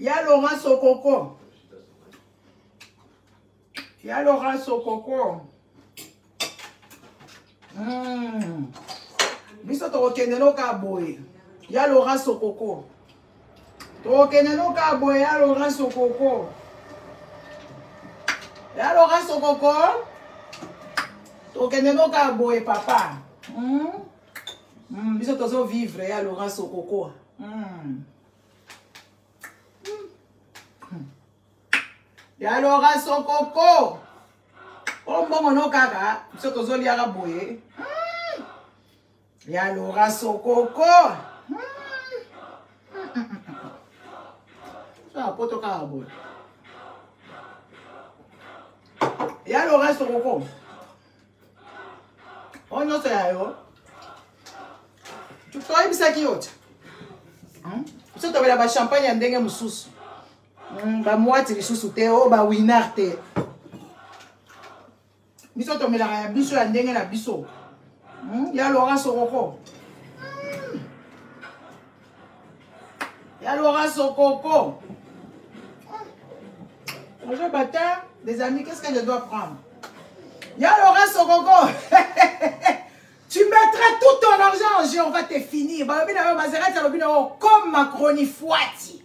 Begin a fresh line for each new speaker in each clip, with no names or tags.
ya lora sokoko ya lora sokoko mm. biso tokokende noka boye ya lora sokoko tokokende no kaka boye ya laurent sokoko ya laurent sokoko tokokende no kaka boye papa mm? Mm, biso tozo vivre ya laurent sokoko mm. ya laurent sokoko oyo mbongo no kaka biso tozoliaka boye mm. ya lora sokoko soya poto kaka boye ya lora sokoko oyo nyonso ya yo toyebisaki yo te hmm? biso tobela bachampagne ya ndenge mosusu hmm, bamwati lisusu te o oh, bawinar te biso tomelaka ya biso ya ndenge na biso hmm? ya lora sokoko hmm. ya lora sokoko bonjour hmm. bata des amis qu'est ce que je dois prendre ya lora sokoko tu mettras tout ton argent en jeu on va te finir balobi na yo mazerati alobi na yo comme macronifuati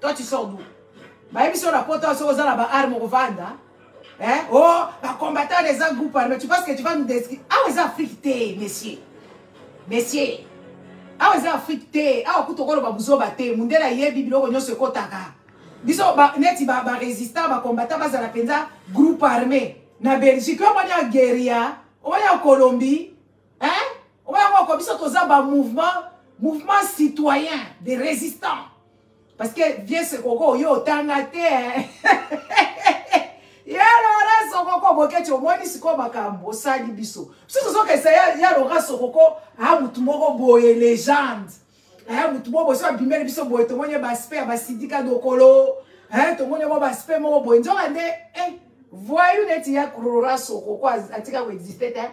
toi tu sors d'où bayebisi yo na poto soki oza na baarme okovanda eh? o oh, bacombattant wana eza groupe arme tu penses que tu vas nous descri awa eza afrique te monsieur monsieur awa eza afrique te awa kutu okoloba buzoba te mundele ayebi biloko nyonso ekotaka biso neti barésistant bacombattant bazala mpenza groupe armé na belgique yo omoni ya gueria omoni ya colombie omoni yango oko biso toza bamouvement mouvement citoyen de résistant Parce que vieux Sekoko yo otanga te. Hein. ya Laura Sokoko boketi omoni sikoyo makambo osali biso. Biso tozokesa ya, ya Laura Sokoko ha motu moko boye legende. Ha motu moko boye so abimeli biso boye tomoni baspe ya basidika dokolo. Ha tomoni mwa baspe moko boye nzoka nde eh, voyou neti ya Laura Sokoko atika koexiste te. Eh?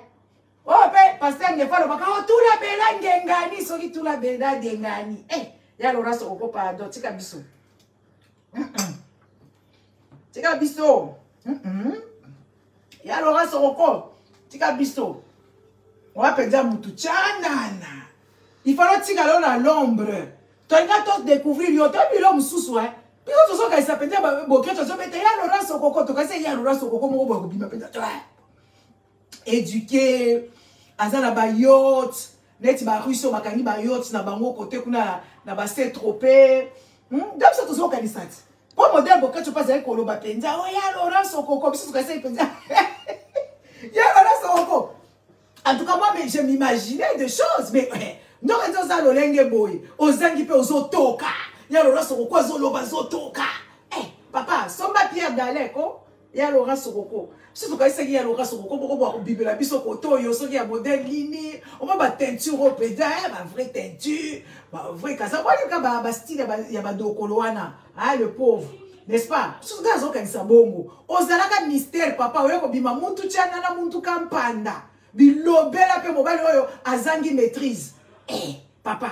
oyo mpe paster ngefa alobaka o oh, tula bela ngengani soki tula bela ngengani e eh, ya lora sokoko pardon tika biso tika biso ya lora sokoko tika biso owa mpenza motu canana ifalo tika lo na lombre tolinga todécouvrir yo to bilo mosusu e biso tozokanisa mpenza bokristo azobeta ya lora sokoko tokasi ya lora sokoko moko boye kobima mpenza éduqué aza na bayote neti barusse oyo bakangi bayote na bango kote kuna na base trope hmm? nda biso tozokanisa ti mpo modele bokati mpe azali koloba mpenza o oh, ya laurence okoko biso tokasai mpenza ya laurence okoko en tout cas moi je m'imaginais des choses mais eh, ndoko eza oza lolenge boye ozangi mpe ozotoka ya laurence okoko azoloba azotoka eh, papa somba pierre daleko ya Laura Sokoko biso tokanisaki ya Laura Sokoko boko bwa kobimela biso koto oyo soki ya modèle nini oma ba teinture oyo mpenza eh, ba vraie teinture ba vraie kaza walika ba, ba style ya badokolo wana ah, le pauvre n'est-ce pas biso ngai azokanisa bongo ozalaka mystère papa oyo kobima mutu tyana na mutu ka mpanda bilobela mpe mobali oyo azangi maîtrise eh, papa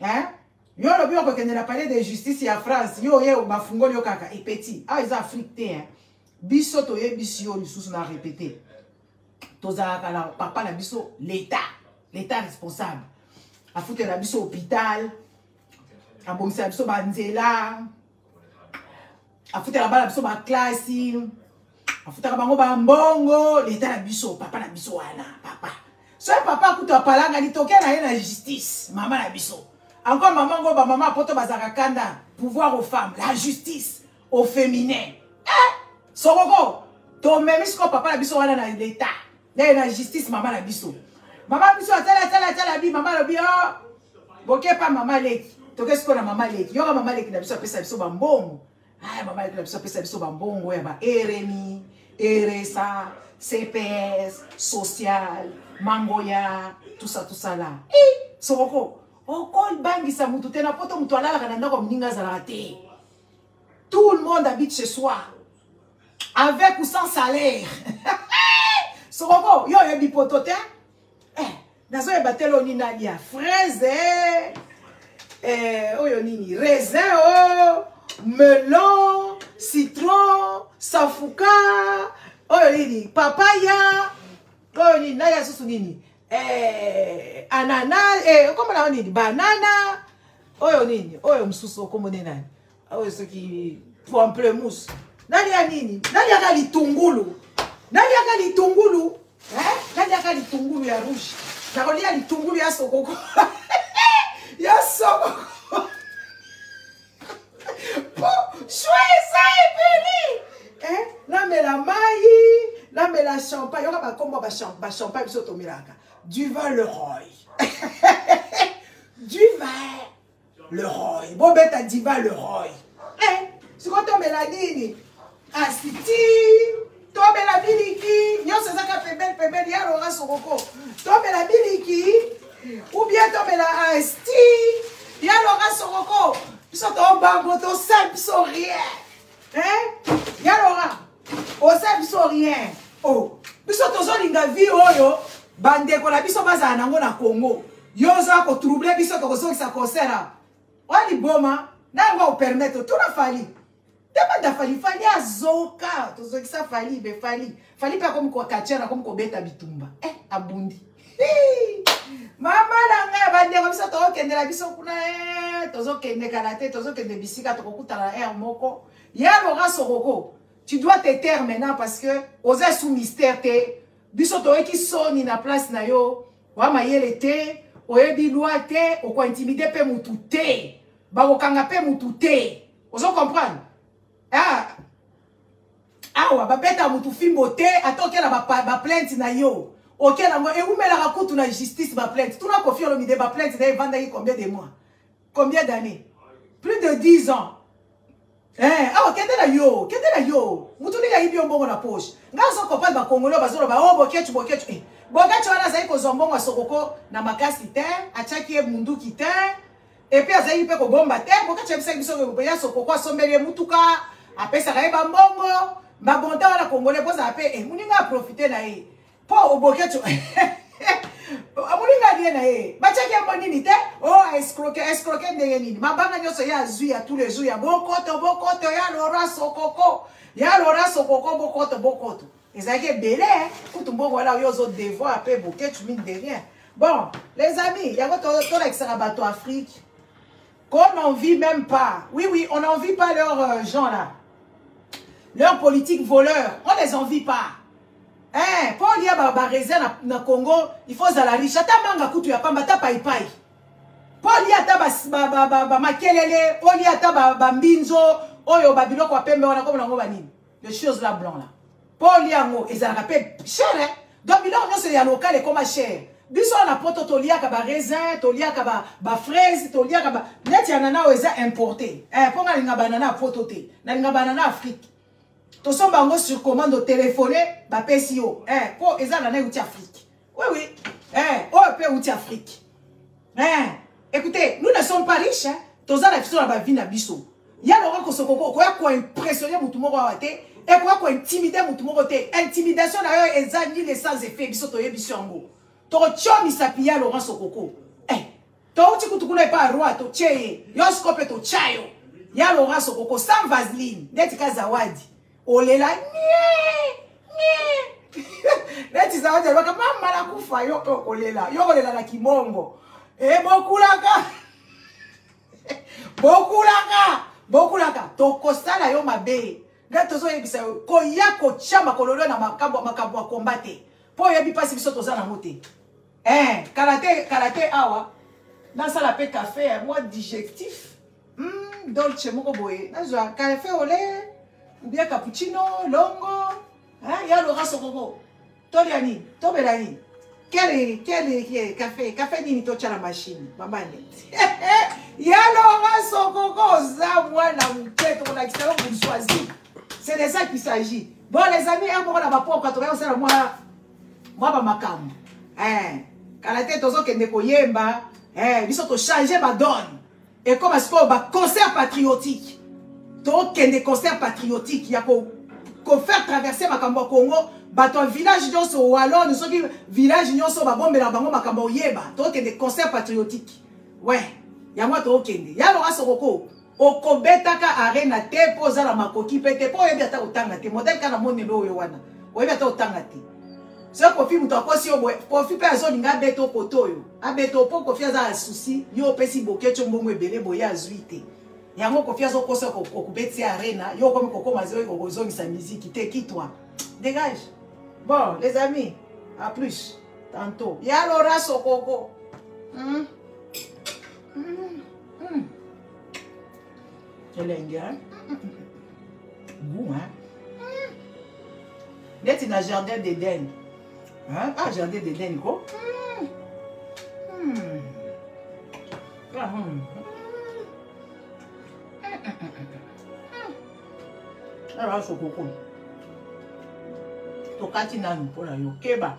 hein yo lobi okokende na palais de justice ya France yo oye bafungoli yo kaka et petit ah eza Afrique te hein biso toyebisi yo lisusu na répéter tozalaka na papa na biso l'état l'état responsable afutela biso hôpital abongisela biso banzela afutaka bana biso baklasi afutaka bango bambongo leta na biso papa na biso wana papa soki papa kutu apalanga litoke na ye na justice mama na biso encore mama ngo bamama poto bazalaka kanda pouvoir aux femmes la justice au féminin eh, sokoko tomemi sikoyo papa na biso wana na leta naye na justice mama na biso mama biso atala atala atala bi mama alobi o oh, bokepa mama leki toke sikoyo na mama leki yoka mama leki na biso apesa biso bambongo aya mama leki na biso apesa biso bambongo ya ba rmi eresa cps social mangoya tusa tusala e sokoko okolbangisa oh, motu te na poto motu alalaka na ndako ya moninga azalaka te tout le monde habite chez soi avec ou sans salaire sokoko yo oyebi poto te eh, nazoyeba te loni nani ya fraise eh. eh, oyo nini raisin o oh, melon citron safuka oyo nini papaya oyo nini naye asusu nini eh, anana eh, okomona oyo nini banana oyo nini oyo mosusu okomone nani awa esoki pamplemus naliya nini naliaka litungulu naliaka litungulu naliaka litungulu ya rouge nakolia litungulu ya sokoko ya sokoko po shwe eza ebeli namela mai namela champagne yoka bakombo bachampagne biso tomelaka duval leroy duval le roy bobeta diva le roy eh, sikoyo tomela nini kasi ti tomela biliki nyonso ezaka pembeni pembeni ya lora sokoko tomela biliki ubien tomela asti ya lora sokoko biso tobango tosali biso rien hein ya lora oza biso rien oh biso tozolinga vie oyo bandeko na biso bazala nango na congo yo oza kotrouble biso tokozongisa concert a oya liboma nango aopermettre tuna fali tebanda fali fali azoka tozongisa fali be fali fali mpe akomi kokatiana akomi kobeta bitumba eh abundi mama na ngai bandeko biso tokokendela biso kuna eh, tozokende kala te tozokende bisika tokokutana na aire moko ya loka sokoko tu dois te taire maintenant parce que oza sous mystère te biso toyoki soni na place na yo wa mayele te oyebi loi te okointimide mpe motu te bakokanga mpe motu te ozo comprendre ah awa babeta mutu fimbo te ata okela baplainte ba na yo okela yango ewumelaka kutu na justice baplainte tuna kofi olomide baplainte na ye evandaki combien de mois combien d'année plus de 10 ans eh, awa kende na yo kende na yo mutu nini ayibi yo mbongo na poche ngai azokopane bakongolo bazoloba o oh, bokecu bokecu eh. bokecu wana azali kozwa mbongo ya sokoko na makasi te atyaki ye munduki te epuis azalaki mpe kobomba te bokati yebisaki biso ya sokoko asombeli ye motuka apesaka ye bambongo mabonta wana congolais bozala mpe eh, moninga aprofite na ye mpo oboketi moninga alie na ye batiaki yango nini te o oh, escroke escroke ndenge nini mabanga nyonso ye azwi ya tous les jours ya bokoto bokoto ya lora sokoko ya lora sokoko bokoto bokoto ezalaki ebele kutu mbongo wana yo ozo devoir mpe boketu mine de rien bon les amis yango tolakisaka bato afrique qu'on n'en vit même pas oui oui on n'en vit pas leurs euh, gens là leurs politiques voleurs on les envie pas eh, mpo olia baresia na, na congo il faut ozala riche ata manga kutu ya pamba ata paipai mpo olia ata bamakelele olia ata bambinzo oyo babiloko ya pembe wana komona yango banini les choses là blanc là mpo olia yango ezalaka mpe cher hein? donc biloko nyonso ya lokale ekoma cher biso wana poto toliaka baraisin toliaka bafraise ba toliaka ba... neti ya nana oyo eza importe eh, mpo nga nalinga banana ya poto te nalinga banana afrique tosomba yango sur commande otelefone bapesi yo eh, mpo eh, eza nana euti afrique oui oui eh, oyo mpe euti afrique eh, écoutez nous ne sommes pas riches hein? toza na biso na bavi na biso ya lokola kosokoko okoya koimpressionne motu moko awa te ekoya kointimide motu moko te intimidation na yo eza nile sans effet biso toyebi biso yango tokotyo misapi ya laurent sokoko eh, touti kutu kuna epa roi totye ye yo siko mpe totya yo ya laurent sokoko sans vaseline ndeti ka zawadi olela neti zawadi alobaka mama nakufa yo okolela yo okolela na kibongo e bokulaka bokulaka bokulaka tokosala yo mabe nde tozoyebisa yo koya kotya makololo na makambo makambo ya komba te mpo oyebi mpasi biso toza nango te eh, kala te kala te awa nasala mpe kafe ya mwa digestif Hmm, dolce moko boye nazwa cafe ole ubia cappuccino longo hein, ya lora sokoko tolya nini tobela nini kele kele cafe cafe nini totya na mashine mambande ya lora sokoko oza mwana moke tokolakisa yo bourgeoisie c'est de ça qu'il s'agit bon les amis ya moko na bapoka tokoya kosala mwa mwa bamakambo eh, kala te tozokende koyemba eh, biso tochange badone ekoma sikoyo ba concert patriotique tokende concert patriotique ya ko kofaire traverse makambo ya congo bato ya village nyonso walone soki village nyonso babombela bango makambo ya oyeba tokende concert patriotique we yango tokende ya loka sokoko okobetaka arena te mpo oza na makoki mpe te mpo oyebi ata kotanga te modele kaka na monelo oyo wana oyebi ata kotanga te soki kofi moto akosi yo boye kofi mpe azolinga abeta okoto oyo abeta opo kofi aza na susi yo opesi boketio mbongo ebele boye azwi te yango kofi azokosa okobetisi arena yo okomi kokoma zoyi kokozongisa miziki te kitwa dégage bon les amis à plus tantôt ya lora sokoko mm. Mm. Mm. elengi hein? goût hein? neti na jardin d'eden hein? ah jardin d'eden ko hmm. Hmm. Ah, hmm. awa sokoko tokati nanu mpo na yo keba